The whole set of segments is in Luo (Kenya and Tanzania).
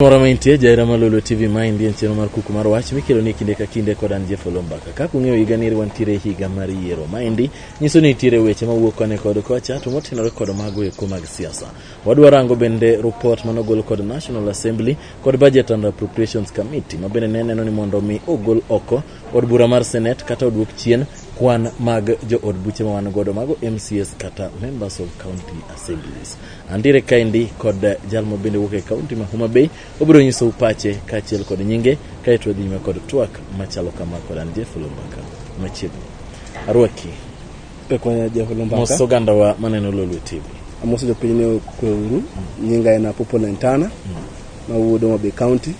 Mora maintie jaera ma Lolo TV ma en chenro mar kuku mar wach mikelo ni kinde ka kinde kod an Jeff Olombaka. Kaka ung'eyo higa ni wantiere higa mar yiero ma endi nyiso ni nitiere weche ma wuok kane kod kocha to motenore kod mago eko mag siasa. Wadwa rango bende report mano gol kod National Assembly kod Budget and Appropriations Committee ma bende ne neno ni mondo mi ogol oko od bura mar Senate kata oduok chien kwan mag jo od buche ma wan godo mago MCS kata members of county assemblies. Andiere kaendi kod jalmo bende wuok e kaunti ma Homa Bay obiro nyiso upache kaachiel kod nyinge kaeto wadhi nyime kod twak machalo kama kod an Jeff Lumbaka machiegni arwaki Pekonya Jeff Lumbaka. mos ogandawa maneno Lolwe TV Amoso jopiny ne okwe uru. Nyinga en Apopo Lentana. Mawuod Homa Bay County.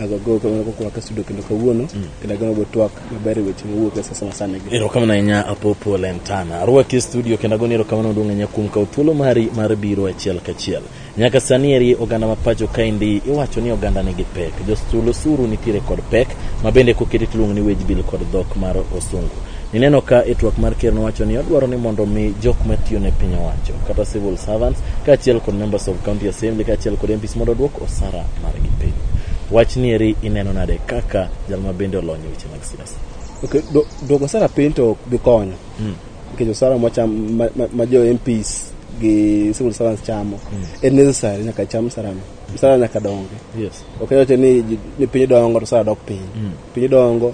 agogo kamano koko wakasudo kendo kawuono mm. kendo ageno go twak maber e weche mowuok e sasa masani gi erokamano ahinya apopo lentana arwaki e studio kendo agoni erokamano duong' ahinya kuom kawo thuolo mari mar biro achiel kachiel nyaka sani eri oganda ma pacho kaendi iwacho ni oganda nigi pek jostul osuru nitiere kod pek ma bende koketi tiluongo ni wage bill kod dhok mar osungu Ineno ka e twak mar ker nowacho ni odwaro ni mondo mi jok matiyo ne piny owacho kata civil servants kaachiel kod members of county assembly kaachiel kod MPs mondo odwok osara margi piny. Wach nieri ineno nade kaka jal ma bende olony e weche mag siasa? Okay, do- duoko sara piny to ok bi konyo nikech osara mwacham ma- ma- ma jo MPs gi civil servants chamo en necessary nyaka cham sarano sara nyaka dongi Yes. ok yot ni ji- ni piny dongo to sara dok piny piny dongo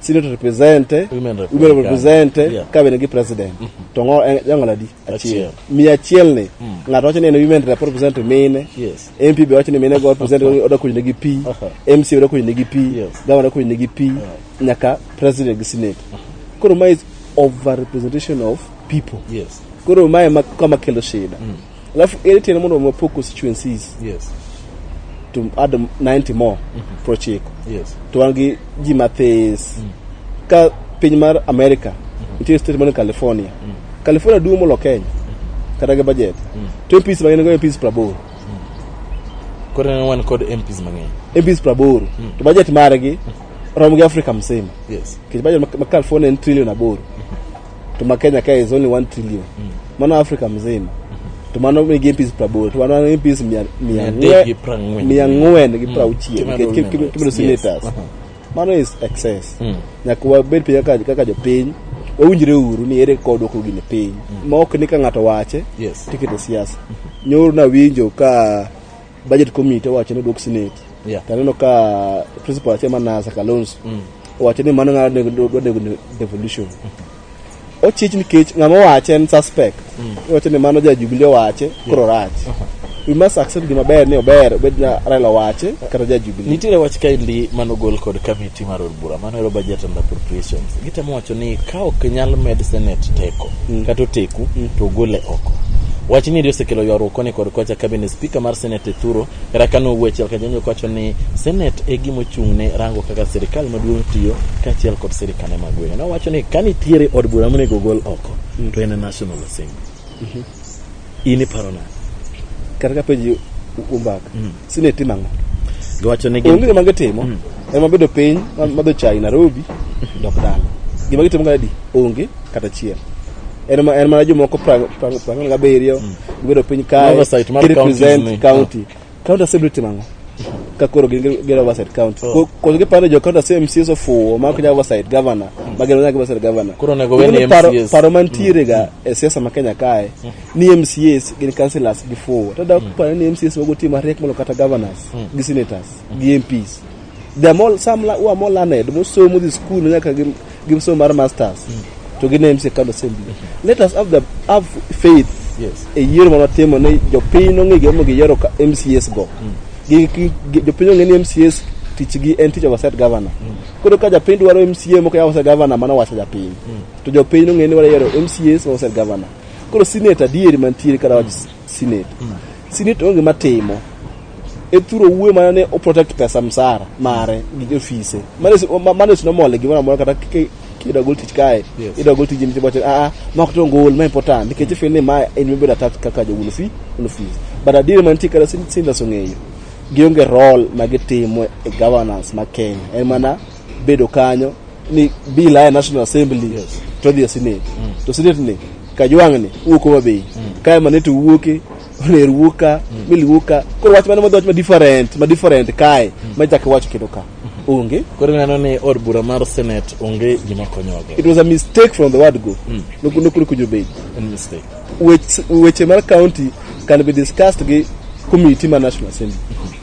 Senate represent, Women women represent, represent yeah. cabinet gi president. To ngo en jang'ola di achiel. Achiel. Mi achiel ni ng'ato wacho ni en women rep represent mine. Yes. MP be wacho ni mine go represent oda kuny negi pi. Aha. MC oda kuny negi pi. Yes. Governor kuny negi pi. Nyaka president gi senate. Koro ma is over representation of people. Yes. Koro ma ema kama kelo shida. alafu ere tiende mondo wapog constituencies yes to add 90 more mm-hmm. prochiko yes to wan gi ji mathis mm. ka piny mar america mm-hmm. nitie state mane california mm. california duong' molo kenya mm-hmm. kata gi budget mm. to mps mang'eny go mps prabor mm. koro ne wan kod mps mang'eny mps prabor mm. to budget margi mm. rom gi africa mzima yes kech budget ma, ma california en trillion aboro mm. tuma kenya kae is only 1 trillion mano africa mzima to mano nigi mpis praboro to mano nigi mpis mia- mia Mia adek ng'we- gi prang'wen. mia ng'wen gi prauchiel Kima nikech dol ki- ki- members. kimedo senators Yes. mano is excess nyaka wabed piny kaka kaka jopiny wawinjre uru ni ere kod dwoko gini piny ma ok ni ka ng'ato wache Yes. tikete siasa nyoro nawinjo ka budget committee owacho ni odwok senate Yeah. to aneno ka principal achiel manasa kalonso owacho ni mano ng'ado nego- dwa nego ne- devolution ochich nikech ng'ama owache en suspect owacho ni mano ja jubilee owache koro rach we must accept gima ber ni ober obed na raila owache kata ja jubilee Nitiere wach kaendi manogol kod kamiti mar od bura mano ero budget and appropriations gitemo wacho ni ka ok nyal med senate teko mm. kata oteku mm. to ogole oko wach ni ndio osekelo ywaruok koni kod kocha kabine spika mar senate thuro kata ka nowuo achiel kajanjo kawacho ni senate e gima ochung' ne rango kaka sirikal maduong' tiyo kaachiel kod sirikane mag gwenge nowacho ni ka nitiere od bura monego ogol oko mm. to en national assembly mm -hmm. in iparo nade kata ka penji umbaka mm. sine timo ang'o giwacho ni onge gima gitimo mm. ema bedo piny madho chai Nairobi dok dala gima gitimo ga di onge kata chiel en ma en ma jomoko prang prang prang ga berio mm. gibedo piny kae represent county County Assembly timo ang'o? Ka koro gin gi- gin oversight county. Ko- Koso giparo jo county assembly MCs ofuwo ma ok nyal oversight governor. Ma gin nyaka oversight governor. Koro onego we ni Ing'eyo paro- MCAs. Paro mantiere ga e siasa ma Kenya kae ni MCAs gin councillors gifuwo. Tada ok paro ni MCAs wago tim mariek molo kata governors gi senators gi MPs. They are more, some la- who are more learned, more so more the school nyaka gi gi so mar masters. To gi names e kano assembly. Let us have the have faith Yes. e yiero ma watimo ni jopiny nong'e gimomiyo giyiero ka- MCS go. Gi- gi- gi- Jopiny ong'e ni MCS tichgi en tich of a state governor. Koro ka japiny dwaro MCA moko yawo state governor mano wacho japiny. To jopiny nong'e ni wayiero MCS ma state governor. Koro senate adieri mantiere kata Senate. Mm. Senate onge matimo. Ethuro wuwe mana ne o protect pesa msara mare gi jofise. Mane mane sino mole gi mara mora kata kike kida gol tich kae. Yes. Ida gol tich ni tibache a ah, a ah, ma kto ngol ma important nikech mm. feel ni ma en mi beda tax kaka jo wufi no fees. But adire man tikara sin sin da songeyo. Gionge role ma gitimo e governance ma Kenya. En mana bedo kanyo ni bill aya national assembly yes. to dhi e senate mm. to senate ni kajwang ni wuok homa bay mm. kae mane to wuoke oner wuok ka mm. mil wuok ka koro wach mane madwach ma different ma different kae mm. ma chak wacho kendo ka mm. onge koro neno ni od bura mar senate onge gima konyoge it was a mistake from the word go mm. nokuri kujo bay mistake weche mar county can be discussed gi committee ma national assembly mm -hmm.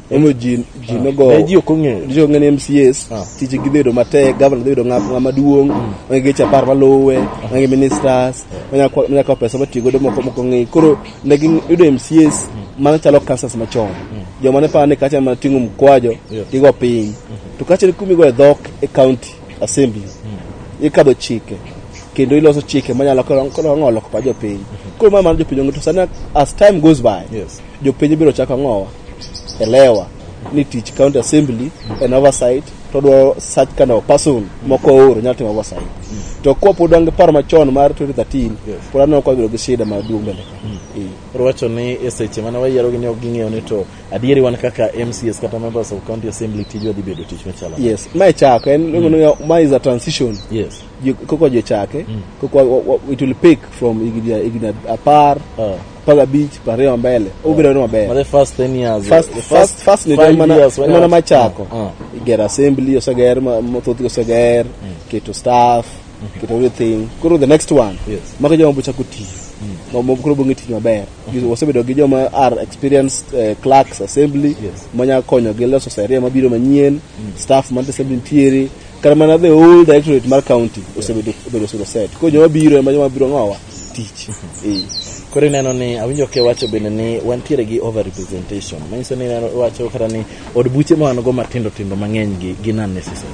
Emomiyo ji ji nogo Ne ji ok ong'eyo. ji ok ong'eyo ni MCAs Ah. tije gi bedo matek, governor dhi bedo ng'a- ng'ama duong', onge geche apar maluwe, onge ministers, onya kwa- onya kawo pesa motiyo godo moko moko ng'e. Koro ne giyudo MCAs mano chalo kansas machon. Joma ne paro ni kacha mana ting'o mkwajo Yeah. tigo piny. To kacha ni kumigo e dhok e county. Assembly ikadho chike kendo iloso chike manyalo konyo ng'olo pa jopiny. Koro ma mano jopiny ong'e to sani as time goes by Yes. jopiny biro chako ng'owa elewa ni tich county assembly en oversight to dwaro such kind of person moko ooro nyalo timo oversight to kwa pod wan gi paro machon mar 2013 Yes. pod aneno kwa bedo gi shida maduong' mbele ka. Eh. Koro wacho ni e seche mane wayierogi ne ok ging'eyo ni to Adieri wan kaka MCS kata members of county assembly tijwa dhi bedo tich machalo. nade? yes mae chako en mm. mae is a transition Yes. Ju- koko jochake Mm. koko wa- wa- it will pick from higni higni apar Uh, mpaka bich pariyo mbele obiro ni maber for the first 10 years. First- the first- first ni five mana- years when I mana was- machako. Uh, uh. igero assembly oseger ma- mathoth oseger keto staff keto everything koro the next one Yes. mako joma bochako tiyo ma- ma- koro bong'e tich maber wasebedo gi joma are experienced uh, clerks assembly yes. manyalo konyo gi loso seria mabiro manyien mm. staff man assembly nitiere kata mana the whole directorate mar county osebedo obedo solo set koro joma biro ema joma biro ng'owa tich eh. koro ineno ni awinjo ke wacho bende ni wantiere gi over representation manyiso ni wacho kata ni od buche ma wan go matindo tindo mang'eny gi gin unnecessary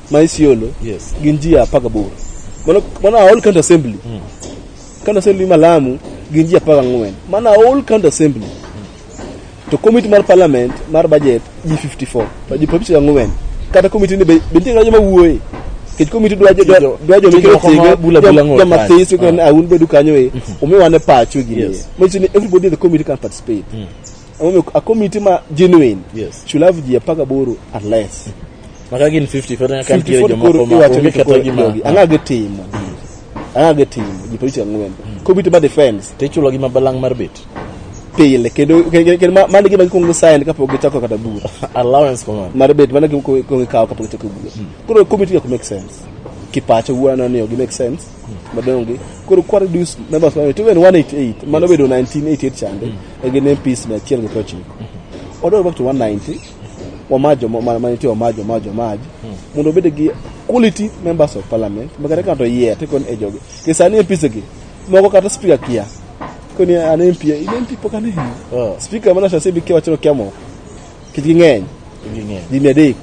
ma Isiolo Yes. gin ji apar gaboro. Mano mano all county assembly. County assembly ma Lamu gin ji apar gang'wen. Mano all county assembly. To committee mar parliament mar budget ji 54. To ji 54 gang'wen. Kata committee ni be be nitie ng'ato ma wuoye. Kech committee dwa jo Tijo- dwa jo tijo moko ma bula bula ng'ol joma kanyo. this kan awun bedu kanyo e. Umiwane pacho gi. Yes. Mochi ni everybody in the committee can participate. Omiyo a committee ma genuine Yes. should have ji apar gaboro at least. Maka gin 50 fod nyaka nitie 54 jomoko koro ma iwacho onge ni kata koro gima. jogi, ang'a gitimo ang'a gitimo ji picha ang'wen kobito ba defense To ichulo gi mabalang' mar bet. pile kendo kendo- kendo ma- mano gima gikwongo sign kapok gichako kata bura Allowance komanda. mar bet mano gima kwongo ikawo kapok gichako bura koro komiti ok make sense kipacho wuana ni ok make sense madonge koro kwa reduce numbers mano to even 188 mano bedo 1988 chande e gin MPs 119 odog back to 190 wamajo manite wamajo wamajo wamaj hmm. mondo obed gi quality members of parliament makata ng'ato yier tikon e jogi ke sani e pisegi moko kata speaker kia koni an MP in MP pok an hino oh. speaker mana sasa bikia wachiro kia moko kit ging'eny ging'eny adek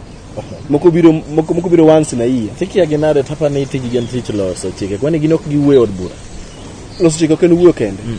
moko biro moko moko biro once na year tikia ginade tapa ni tiji gen tich loso chike kwani gin ok giwuoyo od bura loso chike ok en wuoyo kende mm.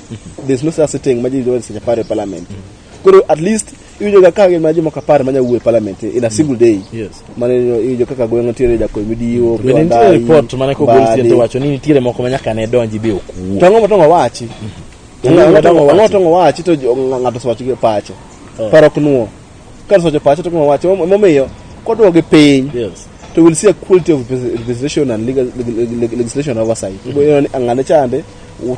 there's no such thing ma ji yudo seche apar e parliament koro at least iwinjoga ka gin mana jomoko apar manya wuo e parliament in a single day Yes. mane iwinjo kaka gweng' nitiere jakony midiwo To bende nitie report mane kogol sien to wacho ni nitiere moko ma nyaka ne donji be ok wuo to ang'o matongo wachi Ang'o matongo wachi? ang'o matongo wachi to jo- ng'ato osewacho gi pache paro ok nuo Kar socho pacho to kuma wacho momiyo kodwa gi piny. Yes. To we'll see a quality of legislation and legal, legislation oversight. Mm -hmm. Ang'ane chande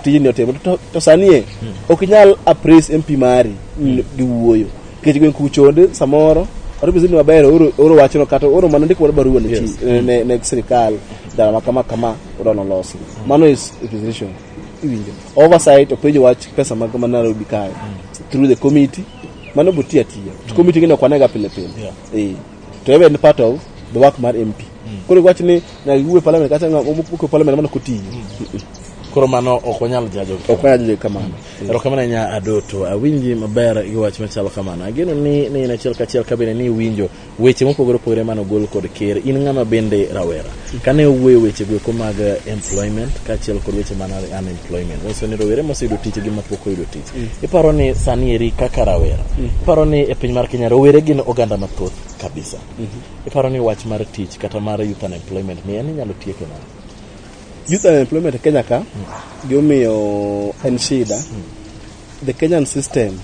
tijni otimo to, to sanie mm. ok inyal appraise MP mari mm. gi wuoyo. Kech gwen kuchonde samoro kata obizini maber oro wachno kata oro mana ndiko wad barua ne yes. ne, ne, ne sirikal dala ma kama kama odono losi mm. mano is requisition iwinjo oversight openjo wach pesa mag ma Nairobi kae mm. through the committee Mano buti atiya. To mm. committee ngene kwanega pile pile. Yeah. Eh. To even part of the work mar MP. Mm. Koro wach ni na wuwe parliament kata ng'a omuko parliament mano kotiyo. Mm. Koro mano ok wanyal jajo. Ok wanyal jajo kamano. Mm. Ero kamano nya adoto. Awinji maber gi wach machalo kamano. Ageno ni ni in achiel kachiel kabine ni winjo weche mopogore opogore mane ogol kod ker in ng'ama bende rawera kane owuoyo weche goeko mag employment kaachiel kod weche mana unemployment nyiso ni rowere moseyudo tich gi mapok oyudo tich mm. iparo ni sani eri kaka rawera mm. iparo ni e piny mar kenya rowere gin oganda mathoth kabisa mm-hmm. iparo ni wach mar tich kata mar youth unemployment ni en inyalo tieke nade youth unemployment e kenya ka mm. gimomiyo en shida The Kenyan system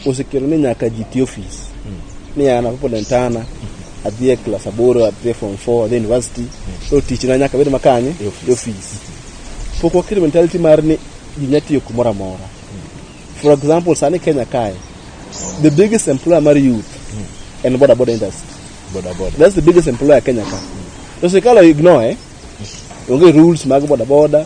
osekelo ni nyaka ji ti ofis ni an apo lentana adhi e klas aboro adhi e form four adhi e university to tichna nyaka bed makanye E ofis. e ofis pok waketo mentality mar ni ji nya tiyo kumoro amora for example sani kenya kae the biggest employer mar youth en boda boda industry Boda boda. that's the biggest employer kenya ka to sirikal ignore onge rules mag boda boda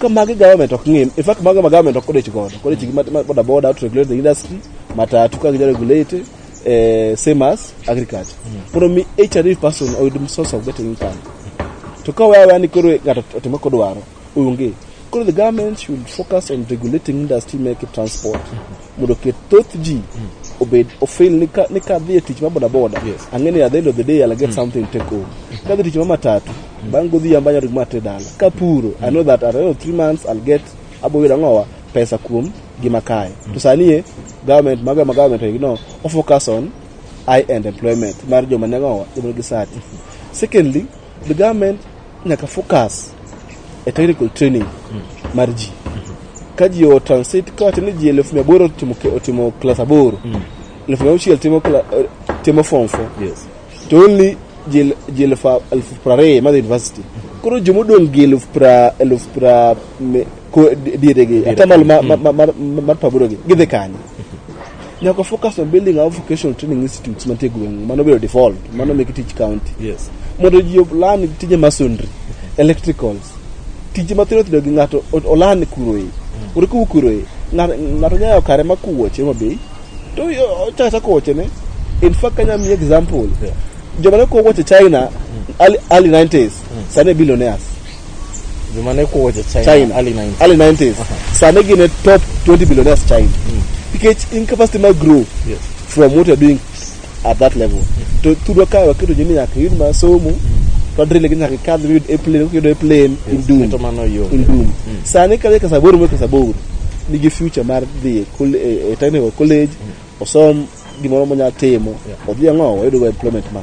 ka magi government ok ng'im in fact mago ma government ok odich godo kodich gi mat- mat- boda boda to regulate the industry matatu ka ginya regulate eh, same as agriculture mondo mi each and every person oyud source of getting income to ka wewe yani koro ng'ato otimo kodwaro onge koro the government should focus on regulating industry make transport mondo oket thoth ji mm. obed ofil ni ka ni ka dhi e tich ma boda boda yes. ang'e ni at the end of the day I'll get mm. something take home mm. ka dhi tich ma matatu mm. bang' godhiambo anyalo gima ate dala ka puro mm. I know that at the end of three months I'll get abo yudo ang'owa pesa kuom gima kae mm. to sani e government maga ma government e no o focus on high end employment mar joma ne ng'owa joma gi sati secondly the government nyaka focus e technical training mar ji ka ji o transit ka wacho ni ji elfu mia aboro otimo ke- otimo klas aboro elfu mia auchiel timo kla- eh, timo form four Yes. to only ji el- ji elfu a- elfu prariyo madhi university koro jomodong' gi elfu pra elfu pra me- ko dieregi atamalo ma- ma- ma- mar- mar paburogi gidhi kanye nyaka focus on building our vocational training institutes mantie gweng' mano bedo default mano meke tich county yes mondo ji olan tije masonry electricals tije mathindo thindo gi ng'ato o- olan kuroe ore kuwu kuroe ng'a- ng'ato nyayo kare ma kuwoche mabei to yo- ochako chako wochene in fact kanya mi example Yeah. joma ne kuwo woche china early early 90s sane billionaires joma ne kuwo je China, China early 90s. early 90s sane gin e top 20 billionaires China nikech incapacity mar grow Yes. from what you're doing at that level to tudwa ka waketo jini nyaka yud ma somo to drill gi nyaka kadh yud a plane yud a plane in Yes, doom keto mano yo. in doom sani kadhi kasaboro mo kasaboro nigi future mar dhi e col- e e technical college osom gimoro monya timo odhi ang'o oyudogo employment ma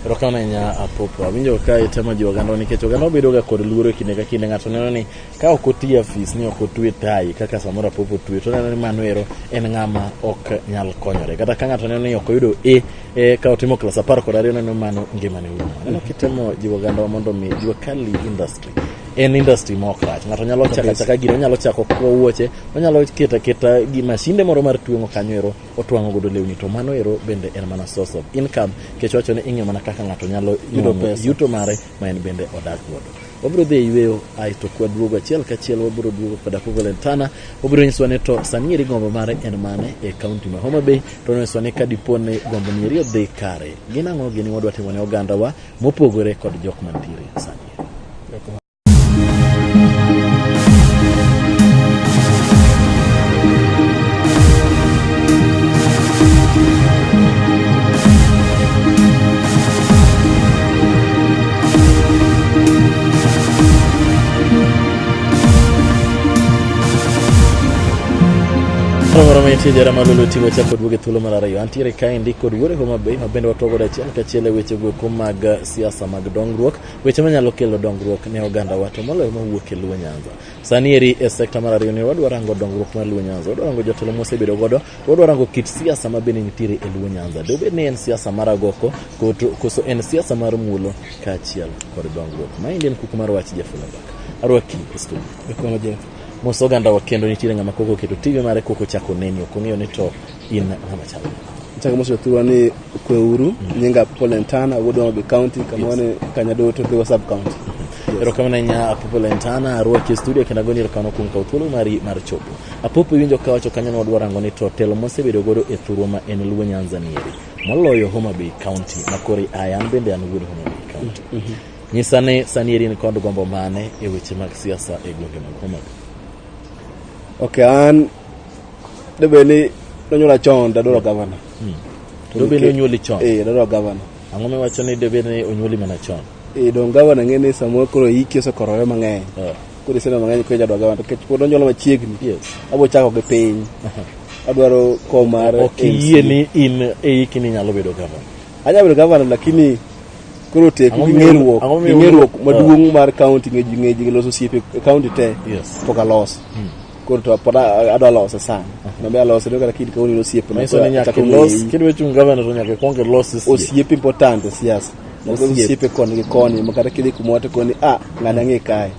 erokamano ahinya apopo awinjo ka itemo jiwo oganda nikech oganda obedoga kod luoro e kinde ka kinde ng'ato neno ni ka ok oti afis ni ok otwe tai kaka samoro apopo twe to neno ni mano ero en ng'ama ok nyal konyore kata ka ng'ato neno ni ok oyudo e e ka otimo klas apar kod ariyo neno ni mano ngimane urumo neno kitemo jiwo ogandawa mondo mi jiwa kali industry en industry ma ok rach ng'ato nyalo chako achaka gino onyalo chako kuo wuoche onyalo keto aketa gi mashinde moro mar tweng'o kanyo ero otwang'o godo lewni to mano ero bende en mana source of income kech wacho ni ing'e mana kaka ng'ato nyalo Yudo nwang'o pesa. yuto mare ma en bende odak godo wabiro dhi e yueyo ae to kwaduogo achiel kachiel wabiro duogo kod apogo lentana wabiro nyisowa ni to sani eri gombo mare en mane e kaunti ma homa bay to nonyisowa ni ka dipo ni gombo ni eri odhi kare gin ang'o gini wadwa timo ne ogandawa mopogore kod jok mantiere sani Miti jarama lulu tigo chako duoge thuolo mar ariyo antiere kaendi kod yore Homa Bay ma bende watwago achiel kachiel e wechego eko mag siasa mag dongruok, weche manyalo kelo dongruok ne ogandawa to moloyo mawuok e Luo Nyanza. Sani eri e sekta mar ariyo ni wadwa rango dongruok mar Luo Nyanza, wadwa rango jotelo mosebedo godo, to wadwa rango kit siasa ma bende nitiere e Luo Nyanza. Dobed ni en siasa mar agoko koto- koso en siasa mar muolo kaachiel kod dongruok. Maendi en kuku mar wach Jeff Olabak. Arwaki e studio. Ekono Jeff. Mos ogandawa kendo nitiere ng'ama koko keto TV mare koko chako neni, ok ong'eyo ni to in ng'ama chalo chaka mosi othurwa ni kweuru nyinga polentana wuod Homabay county kama wane kanya duto dhiwa sub county erokamano ahinya apopo lentana arwaki e studio kendo agoni erokamano kuom kawo thuolo mari mar chopo apopo iwinjo ka wacho kanyo ni wadwa rango ni to telo mosebedo godo e thurwa ma en luo nyanza nieri moloyo homa bay county ma kori aya an bende an wuod homa bay county nyisa ni sani eri ni kod gombo mane e weche mag siasa e gwenge mag homa bay Okay, an debe ni nonyuola chon dadwaro gavana. To Dobe nikech- nonyuoli chon. Eh, dadwaro gavana. Ang'o miwacho ni dobe ni onyuoli mana chon? Eh, dong gavana ng'e ni samoro koro hiki osekorore mang'eny. Eh. Koro iseno mang'eny koro jadwaro gavana. Nikech pod onyuola machiegni. Yes. Abo chako gi piny. Adwaro kom mar Ok iyie ni in e hiki ni nyalo bedo gavana. Anyalo bedo gavana lakini koro teku Ang'o gi miyo- ng'eruok ang'o gi miyo- ng'eruok Ah. maduong' mar kaunti ng'e ji ng'e ji loso osiepe e kaunti te Yes. pok aloso koro to pod a- adwa lose sana nabe alose no kata kid kaunti nosiepe na Manyiso ni nyaka achako ilos ng'eyi. kidwa chung' gavana to nyaka ikwong ilos osiepe. osiepe important e siasa Nyaka Osiepe. osiepe koni gi koni ma kata kidhi kumoro to koni a ng'ani ang'e kae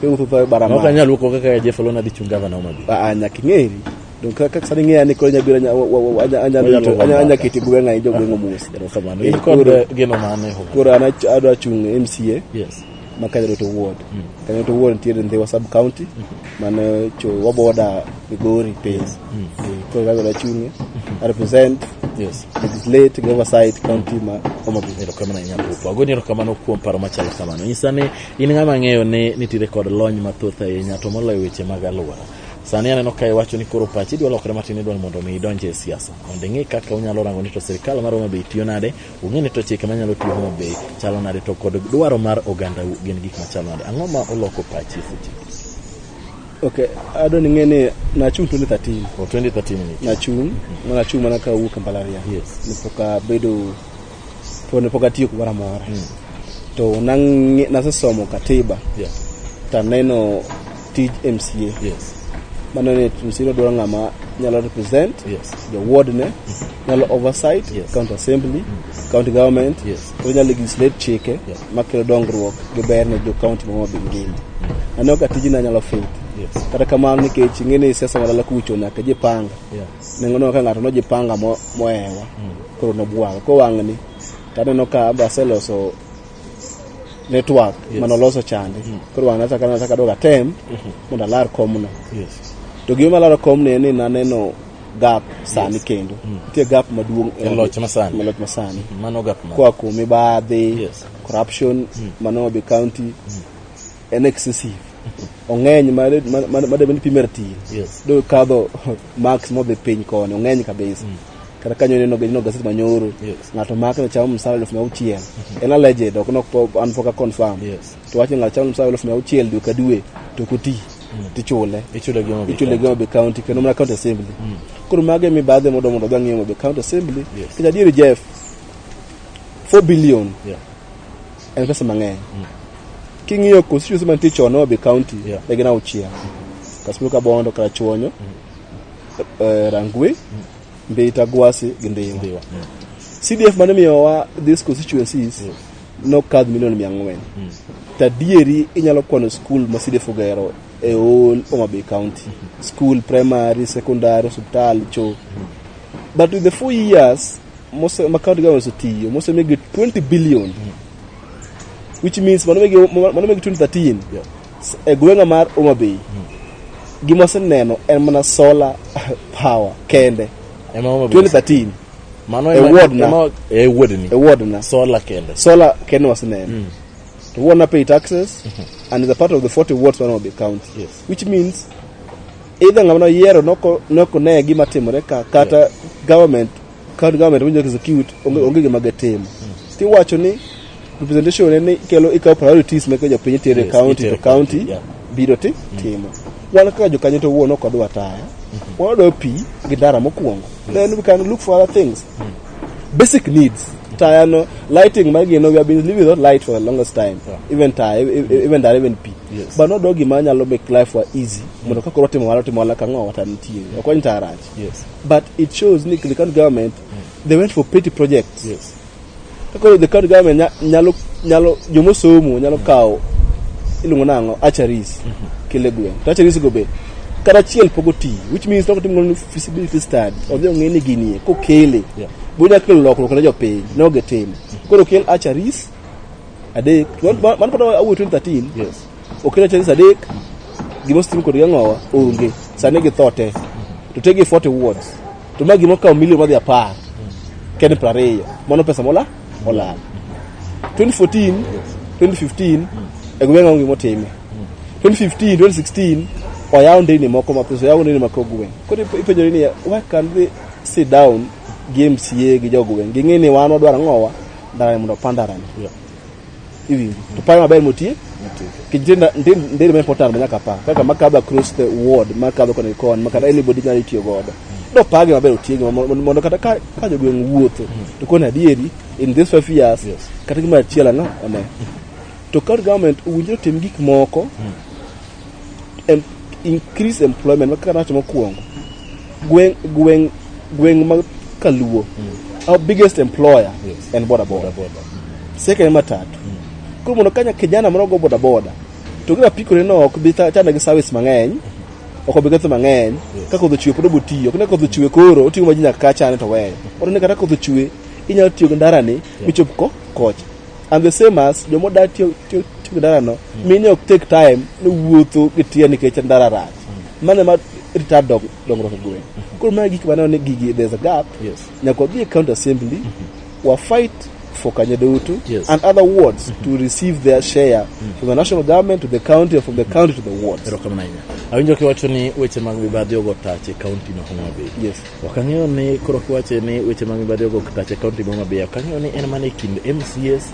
iwuotho tho e Maok barabara anyal wuok oko kaka Jeff Olona dhi chung' gavana Homa Bay. Ah, ah, nyaka ing'eri Donge kaka kaka sani ng'eya ni koro nyabiro anya- wa- wa- wa- anya- anyalo Oya rito- to anya- anya Mama. keti gweng' ahi jogweng'o mos Erokamano. Eh, In kod koro- geno mane ho? koro an ach- adwa chung' mca Yes. ma kanyaroto ward kanyaroto ward nitiere ndhiwa sub county mane cho waboda migori piny Eh, koro kago dachung'e I represent Yes. legislate gi oversight county ma homabay erokamano ahinya Pupu. Agoni erokamano kuom paro machalo kamano. Nyisa ni in ng'ama ng'eyo ni nitiere kod lony mathoth ahinya to moloyo weche mag alwora. Sani aneno ka iwacho ni koro pachi idwa lokre matin idwa ni mondo mi idonj e siasa. Mondo ing'e kaka unyalo rango ni to sirkal mar Homa Bay tiyo nade, ung'e ni to chike manyalo tiyo Homa Bay chalo nade to kod dwaro mar oganda u gin gik machalo nade. Ang'o ma oloko pachi e seche? Okay, adwa ni ng'e ni nachung' 2013. O 2013 ni. Nachung', nachung' mana ka awuok e mbalariany. Yes. Nipoka bedo to ne pok atiyo kumoro amora hmm. to nasesomo katiba taneno tij mca mano ni mca nodwaro ng'ama nyalo represent the ward ne hmm. nyalo oversight county assembly hmm. county government koro nyalo legislate chike makelo dongruok gi ber ne jo county mama be ngima aneno ka tijni anyalo faith kata kamano nikech ing'e ni siasa malala kucho nyaka jipanga nengoneno ka ng'ato noji panga mo- mohewa koro nobwang' kowang'ni to aneno ka be aseloso network Yes. mane oloso chande koro wang'na taka nana taka doga tem mondo alar komno Yes. to gima malaro komno en ni naneno gap sani kendo nitie gap maduong' E loch masani. e loch masani Mano gap ma. koa kuom mibadhi Yes. corruption mano be county en excessive ong'eny madebe ni pime ratil do kadho max modhi piny koni ong'eny kabisa mm. kata kanyo neno gino gaset manyoro ng'ato mak ne chamo msara elfu mia auchiel mm-hmm. en alleged ok nok an pok aconfirm to wach ni ng'ato chamo msara elfu mia auchiel dwe ka dwe to koti mm. tichule ichule gi Homa Bay County kendo mana county assembly mm. koro mago emi baadhi modo mondo odhi ang'iyo Homa Bay county assembly kech adieri Jeff 4 billion en pesa mang'eny king'iyo constituency mantie chon Homa Bay County Yeah. ne gin auchiel Kasuku Kabondo Karachuonyo eh, Rangwe Mbita Gwasi gi Ndhiwa Ndiwa. Mm. CDF mane miyowa these constituencies nokadh milion mia ang'wen tadieri inyalo kwano skul ma CDF ogero e all Homa Bay County skul primary secondary hospital cho but with the four years mose ma county government osetiyo mosemigi 20 billion which means mano megi mano megi 2013 Yeah. s- e gweng'a mar Homa Bay gima seneno en mana solar power kende Ema Homa Bay. 2013 Mano e ema- ward na. ema- e ward ni. e ward na Solar kende. solar kende waseneno to we wanna pay taxes and is a part of the 40 wards man Homa Bay county Yes. which means either ng'ama noyiero noko noko ne gima timore ka kata government County government winjo is cute, onge onge gima gitimo. Tiwacho ni representation en ni ikelo ikawo priorities meke jopiny tere Yes, county itere to county, county yeah. biro ti timo. Wan kaka jokanyo to wuon ok wadwa taya. Wadwa pi gi ndara mokwongo. Then we can look for other things. Basic needs. Taya no lighting ma gino we have been living without light for the longest time. Yeah. Even taya, e- e- even ndara, even pi. Yes. But not dogi ma nyalo make life wa easy. Mondo kaka watimo wala timo wala kang'o wata nitie. Ok wany taya rach. Yes. But it shows ni the current government they went for petty projects. Yes. Koro the current government nya- nyalo nyalo jomo somo nyalo kawo iluongo nango acharis kele gweng. To acharis go be kata achiel pok oti which means loko timo ni feasibility study odhi ong'e ni ginie kokele Yeah. bo nya kelo lokruok ne jopiny ne ogetimo. Koro kel acharis adek man man kata awuo 2013 Yes. Okelo chadi saa adek, gima osetim kodgi ang'owa onge. Sani githo te. To te gi 40 wards. To ma gima okawo milion madhi apar. Kende piero ariyo. Mano pesa mola? Olal. 2014, 2015, e gweng' onge gima otime. 2015, 2016, oyaw ndeyni moko mathiso, oyaw ndeyni mako gweng'. Koro ipe- ipenjori ni, why can't they sit down gi MCA gi jogweng'? Ging'e ni wan wadwaro ang'owa, ndarani mondo opa ndarani. iwinjo to paro maber motie kijite ndio ni important manyaka pa kaka makadho across the ward makadho koni kon makata anybody nyalo tiyo godo do page maber otiegi mondo kata ka ka jogweng wuotho to koni adieri in this five years yes. kata gima achiel ano one to county government owinjore tim gik moko mm. em, increase employment kaka nawacho mokwongo gweng' gweng' gweng' ma kaluo our biggest employer Yes. en boda boda Bodaboda. second en matatu koro mondo kanya kijana moro go boda boda to gina pikore no ok bi ta- chane gi service mang'eny ok obi ketho mang'eny Yes. ka kodho chwe pod obo tiyo kine kodho chwe koro oting'o maji nyaka ka chane to weyo oto ne kata kodho chwe inyalo tiyo gi ndarani michop ko kocha and the same as joma oda tiyo tiyo tiyo gi ndarano mine ok take time ni wuotho gi tiya nikech ndara rach mane ma retard dong- dongruok e gweng koro mae gik maneno ni gigi there's a gap Yes. nyaka wadhi e county assembly wa fight for kanya duto Yes. and other wards to receive their share from the national government to the county or from the county to the wards erokamano ahinya awinjo kiwacho ni weche mag mibadhi ogo tach e kaunti ma homabay Yes. Ok ang'eyo ni koro kiwache ni weche ma mibadhi ogo tache kaunti ma Homabay, ok ang'eyo ni en mana e kind MCAs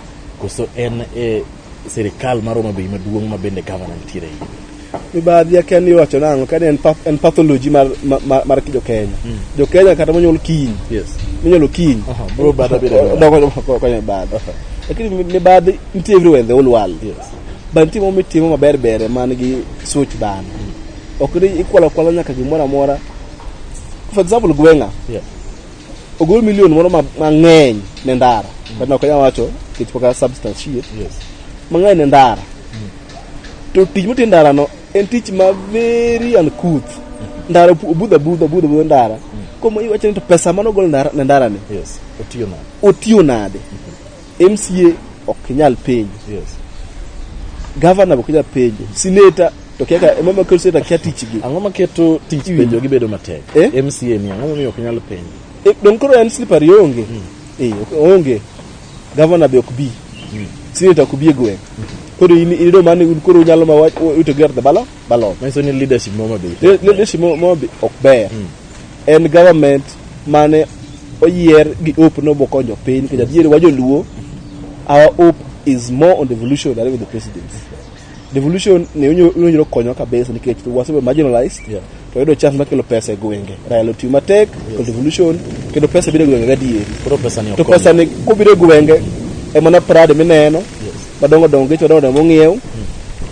koso en e sirikal mar Homabay maduong' ma bende gavana nitiere e iye. mibadhi akia ni iwacho nang'o kani en, path, en pathology mar, mar, mar, mar jokenya mm. jokenya kata monyuol kiny yes. minyuolo kiny Aha, bro, bad abiro e bad. Dongo- dongo- konyo e bad lakini mi- mibadhi nitie everywhere in the whole world Yes. but nitie moro mitimo maber bere man gi such bana ok ni ikwalo akwala nyaka gimoro amora for example gweng'a Yeah. ogol milion moro ma- mang'eny ne ndara but ok anyal wacho kech poka substance shit Yes. mang'eny ne ndara to tich motie ndara no en tich ma very uncouth ndara opu- obudha budha obudha budha ndara komo iwacho ni to pesa mane ogol ndara- ne ndara ni Yes. Otiyo nade? otiyo nade MCA ok nyal penjo. Yes. Gavana ok nyal penjo. Sineta to kia ka mama kel sineta kia tich gi. Ang'o ma keto tich penjo gi bedo matek? Eh? MCA ni ang'o momiyo ok nyal penjo? E, don koro en slippery onge. Mm. Eh, onge. Gavana be ok bi. Mm. Sineta ok bi e gweng. Mm. Koro in ido mane koro nyalo ma wach ute gerte balo? Balot. Manyiso ni leadership moro mabe. Le- leadership mo- mo be ok ber en government mane oyier gi hope no bokonyo piny nikech adier wa joluo our hope is more on devolution than with the president devolution ne onyo- onyo konyo kabisa nikech to wasebedo marginalized Yeah. to yudo chance makelo pesa e gwenge raila otiyo matek to devolution kendo pesa biro e gwenge gadieri Koro pesa ni to ok. pesa ni kobiro e gwenge emana prade mineno madongo dongo geche madongo dongo mong'iew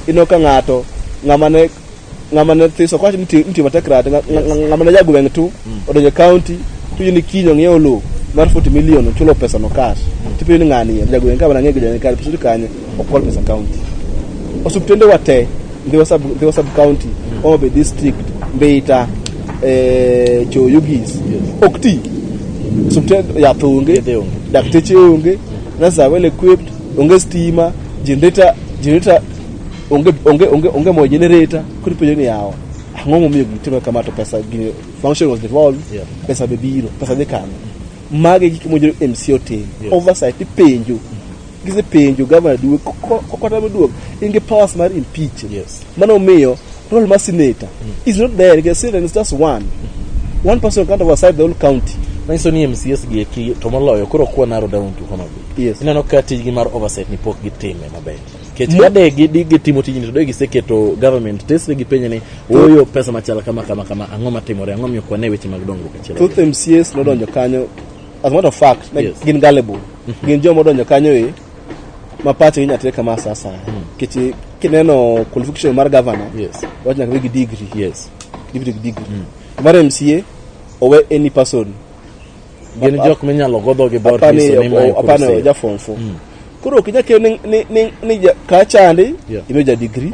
ino ka ng'ato ng'ama ne ng'ama ne thiso kwacho ni ti- mti matek rate nga- nga- nga- ng'ama ne jagweng' tu odonjo e county tuyo ni kinyo ng'iewo lowo mar 40 million ochulo pesa no cash tipenyo ni ng'ani ye jagweng' ka mana ng'e gidane kare pesa kanye okol pesa county osuptende wa te ndhiwa sub ndhiwa sub county Homa Bay district Mbeita eh Choyugis ok ti osuptende yath onge Yedhe onge. dakteche onge nurses are well equipped onge stima generator generator onge onge onge onge mo generator kuri penyo ni yawa ang'o momiyo gitimo kama to pesa gini function was devolved Yeah. pesa be biro pesa dhi kano mage gik mojero mc otim Yeah. oversight ipenjo gisepenjo gavana duwe kokota maduog in gi powers mar impeach Yes. mano omiyo role mar senator is not there because senator is just one one person can't oversight the whole county Manyiso ni MCS gi eki to moloyo koro kwa narrow down to Homa Bay. Yes. Ineno ka tijgi mar oversight ni pok gitime maber. Kech ka de gi di gitimo tijni to de giseketo government tesre gi penye ni oyo pesa machal kama kama kama ang'o matimore ang'o miyo kwane weche mag dongruok achiel. Thoth MCAs nodonjo kanyo as a matter of fact like, Yes. gin gullible. Gin joma odonjo kanyo e ma pachgi inyalo tere kama sa asaya. Nikech kineno qualification mar governor Yes. wach nyaka bed gi degree. Yes. Degree gi degree. Mar MCA owe any person gin jok minyalo godho gi dhot apani nyiso ni mae ok- apani kurusei. oja form four koro ok inyal kelo ni- ni- ni- ni ja- ka chandi Yeah. imiyo ja digri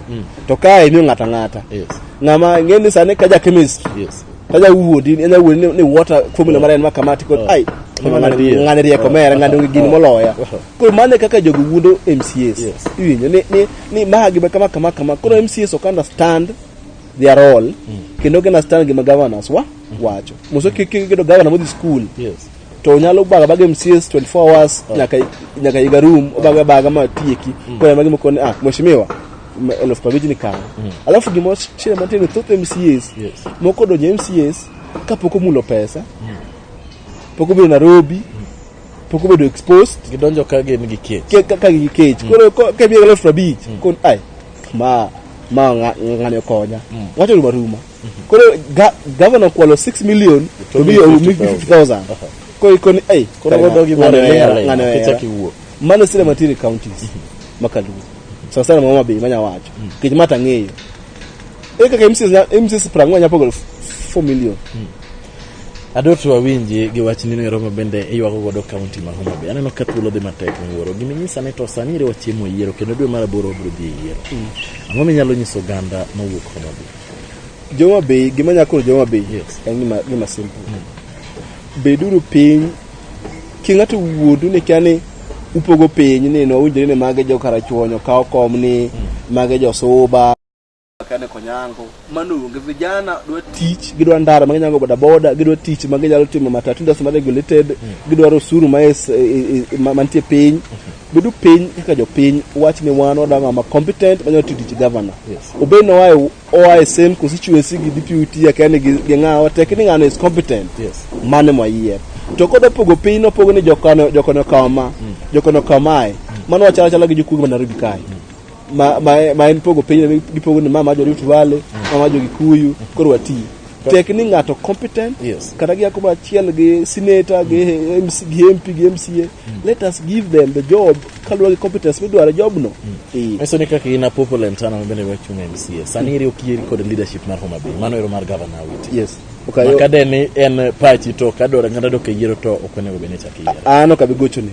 to kae imiyo ng'ata ng'ata Yes, ng'ama ng'e ni sani ka ja chemist yes. ka ja wuodi enya wuodi ni- ni water formula mara en makamati kod ai Ng'ani ng'ani- adier. ng'ani rieko Oh, mera ng'ani oh, onge gini oh, moloya oh. koro mano e kaka jogo wuondo mcs Yes. iwinjo ni- ni- ni magi ma kama kama kama koro mcs ok understand they are all kendo gina stand gima governors wa wacho muso kik kik kedo governor modhi school Yes. to nyalo baga baga MCS 24 hours nyaka nyaka iga room obaga baga ma tieki kwa magi mkone ah mheshimiwa m- elfu kwa vijini kama alafu gimo shida mantie ni thoth MCS Yes. moko donje MCS kapok omulo pesa pok obedo Nairobi pok obedo exposed Gidonjo ka gin gi kech. ke- ka ka gi kech koro ko- ka biega elfu abich kon ai ma ma ng'a- ng'ani okonya wacho ruma ruma koro ga- gavana okwalo 6 million to To mi miyo omi 50,000 koro ikoni ei Koro ng'ani- wadogi ng'ani mana ohera, airline, ng'ani ohera. kichak iwuo. mano sile matiri counties makaluo sana sana mama bei manya wacho kech mata ng'eyo e kaka mcs nya- mcs prang'o nya pogo 4 million Adoto awinji gi wach nino ero mabende iywago godo kaunti ma Homa Bay. Aneno ka thuolo dhi matek miwuoro. Gima inyisa ni to sani ere wachiemo yiero kendo dwe mar aboro wabiro dhi e yiero. Mm. Ang'o minyalo nyiso oganda mawuok Homa Bay? Joma Bay, gima nyako Joma Bay. Yes. En gima gima simple. Mm. Beduru piny ki ng'ato wuodu ni kani upogo piny ni no winjore ni mage jo karachuonyo kawo kom ni mm. mage jo suba kane konyango mano onge vijana dwa tich gidwa ndara ma ginyango bodaboda gidwa tich ma ginyalo timo matatu industry ma regulated hmm. gidwaro osuru ma e, e, e, mantie piny hmm. bedo piny kaka jopiny wach ni wan wadwa ng'ama competent manyalo tiyo tich governor obed ni oae oae same constituency gi deputy akia ni gi ng'awa tek ni ng'ano is competent mane mwayier to koda pogo piny nopogo ni jokano jokano kama hmm. jokano kamae mano wachalo chala gi jokuoge ma Nairobi kae ma, ma, ma en pogo piny ne gipogo ni mama jo Rift Valley, mama jo Kikuyu, koro wati. Tek ni ng'ato competent Yes. kata gi akoma achiel gi senator gi MC gi MP gi MCA. Let us give them the job kaluwore gi competence midwaro e jobno. Eh. Meso ni kaka in a popular in town ma bende wachung' e MCA. Sani iri okieri kod leadership mar Homa Bay. Mano ero mar governor Awiti. Yes. Okay. Maka de ni en pachi to kadwaro ng'ato dok e yiero to ok onego bed ni chak iyiero. An ok abi gochoni.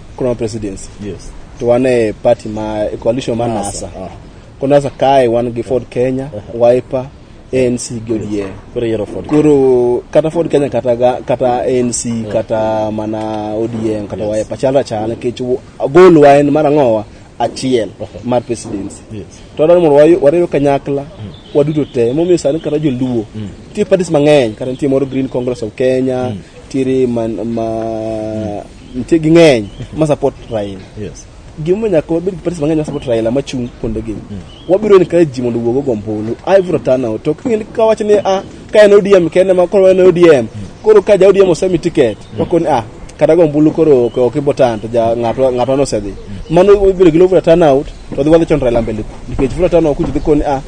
Kuna presidency. Yes. To wan e party ma e coalition ma NASA. Ah. Kuna sa kae wan gi Ford Kenya, Wiper, ANC gi ODM. Koro yiero Ford. Koro kata Ford Kenya kata ga, kata ANC kata mana ODM kata Yes. Wiper chalra chal nikech wo- goal wa en mar ang'owa achiel mar presidency. Yes. To wadwaro mondo wayo- wariw kanyakla waduto te momiyo sani kata joluo nitie parties mang'eny kata nitie moro Green Congress of Kenya nitiere man, ma nitie ging'eny ma support Raila yes gimomiyo nyaka wabed gi parties mang'eny ma support Raila ma chung' kuonde gi wabiro encourage ji mondo owuog ogo ombulu every turn out to king'e ka wacho ni ah ka en ODM kende ma koro en ODM koro ka ja ODM osemi ticket wakoni ah kata go ombulu koro ok ok ibotan to ja ng'ato ng'ato ne osedhi mano wabiro gi low voter turnout to dhi wadhi chon Raila mbele nikech voter turnout kuji dhi koni ah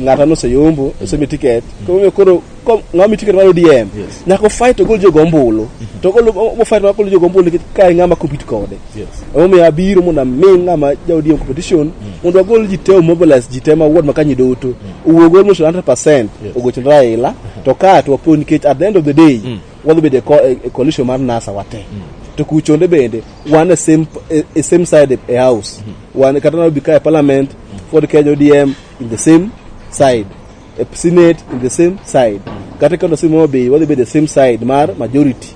ng'ato ne oseyombo osemi ticket koro koro kom- ng'ama mi tiket mar ODM Yes. nyaka ofight ogol jogo ombulu to ogol ofight mar golo jogo ombulu nikech kae ng'ama compete kode Yes. emomiyo abiro mondo ami ng'ama ja ODM competition mondo agol ji te omobilize ji te ma ward makanyi duto owuog almost 100% Yes. ogoch Raila to ka to wapo nikech at the end of the day wadhi bedo e co- e e coalition mar NASA wate to kuchonde bende wan e same e- e same side e- e house wan kata na bika e parliament Ford Kenya ODM in the same side e senate in the same side kata ka nosimo Homa Bay wadhi bedo e same side mar majority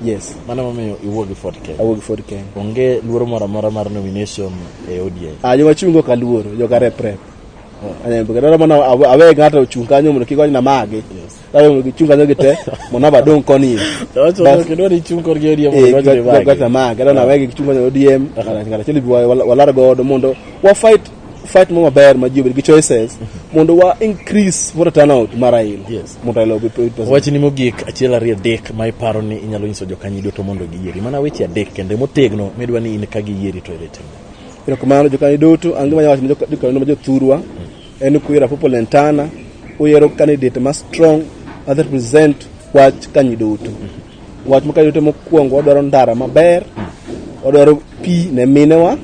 yes Mano momiyo iwuok gi Ford Kenya. awuok gi Ford Kenya Onge luoro moro amora mar nomination e ODI. ah joma chung' go kaluoro joka rep rep anyambe kata mana awe awe ng'ato ochung' kanyo mondo kik wanyna magi awe mondo gichung' kanyo gite mondo aba dong' koni Bas. Kedwa ni chung' korgi ODM Eh, mondo gwa- gwa- gwa- gwa- magi. magi, kata na wegi gichung' kanyo ODM ng'ato achiel ibi wa- wa- walar godo mondo wa fight fight mo maber ma ji obed gi choices mondo wa increase voter turnout mar Raila Yes. mondo Raila obed president. wachni mogik achiel ariyo adek ma iparo ni inyalo nyiso jokanyi duto mondo giyieri mana weche adek kendo motegno midwa ni in ka giyieri to ere timo erokamano jokanyo duto ange manya wacho ne joka- jokanyo ma jothurwa en ni kuyiero Apopo Lentana uyiero candidate ma strong ma dhi represent wach kanyi duto wach ma kanyi duto mokwongo wadwaro ndara maber wadwaro pi ne minewa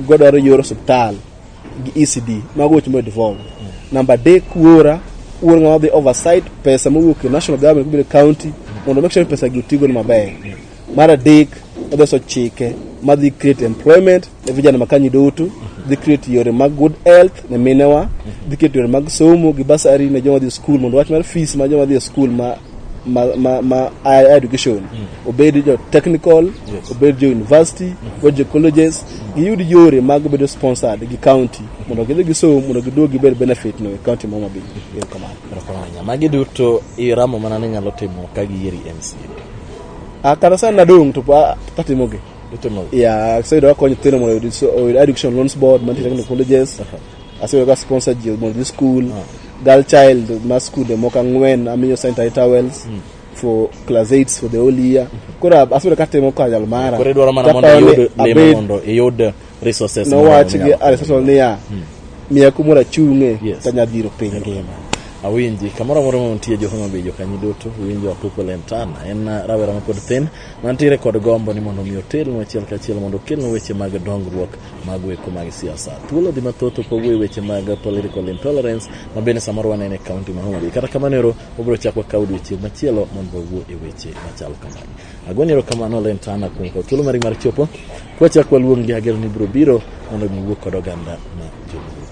godwaro yor osiptal gi ECD mago weche modevolve namba adek wuora wuor ng'ama dhi oversight pesa mowuok e national government kobiro county mondo make sure ni pesa gi otigo ni maber mar adek odoso chike madhi create employment ne vijana makanyi duto dhi create yore mag good health ne minewa dhi create yore mag somo gi basari ne joma dhi e skul mondo wach mar fees ma joma dhi e skul ma ma, ma, ma higher education obed jo technical Yes. obed jo university obed jo colleges giyud yore mag bedo sponsored gi county mondo gidhi gisom mondo giduog gibed benefit no e county ma Homa Bay erokamano Erokamano ahinya. Magi duto iramo mana ni nyalo timo ka giyieri MCA. Ah, kata sani nadong' to pa- katimogi Itimo ya kaseyudo akonyo nyithindo mondo oyud so- oyud education loans board mantie technical colleges Asebedo ka sponsor ji mondo dhi school. Ah. Girl child ma school de moko ang'wen amiyo sanitary towels. Mm. for class 8 for the whole year. Koro asebedo ka temo ka jal mara. Koro idwaro mana mondo iyud lemo mondo iyud resources. Nowach gi Aristotle niya. Hmm. Miya kumoro achung'e yes. to nyadhiro piny ngima. awinji kamoro amora ma nitie jo Homa Bay jokanyi duto winjo Apuko Lentana en rawera ma pod thin mantiere kod gombo ni mondo omi otelnu achiel kachiel mondo okelnu weche mag dongruok Mago eko mag siasa. Thuolo di mathoth opogo e weche mag political intolerance ma bende samoro waneno e kaunti ma Homa Bay. Kata kamano ero wabiro chako kawo odiechieng' machielo mondo wawuo e weche machal kamagi. Agoni ero kamano Len Tana kuom kawo thuolo mari mar chopo. Kwachak waluongi agero ni biro biro mondo mi wuo kod oganda ma joluo.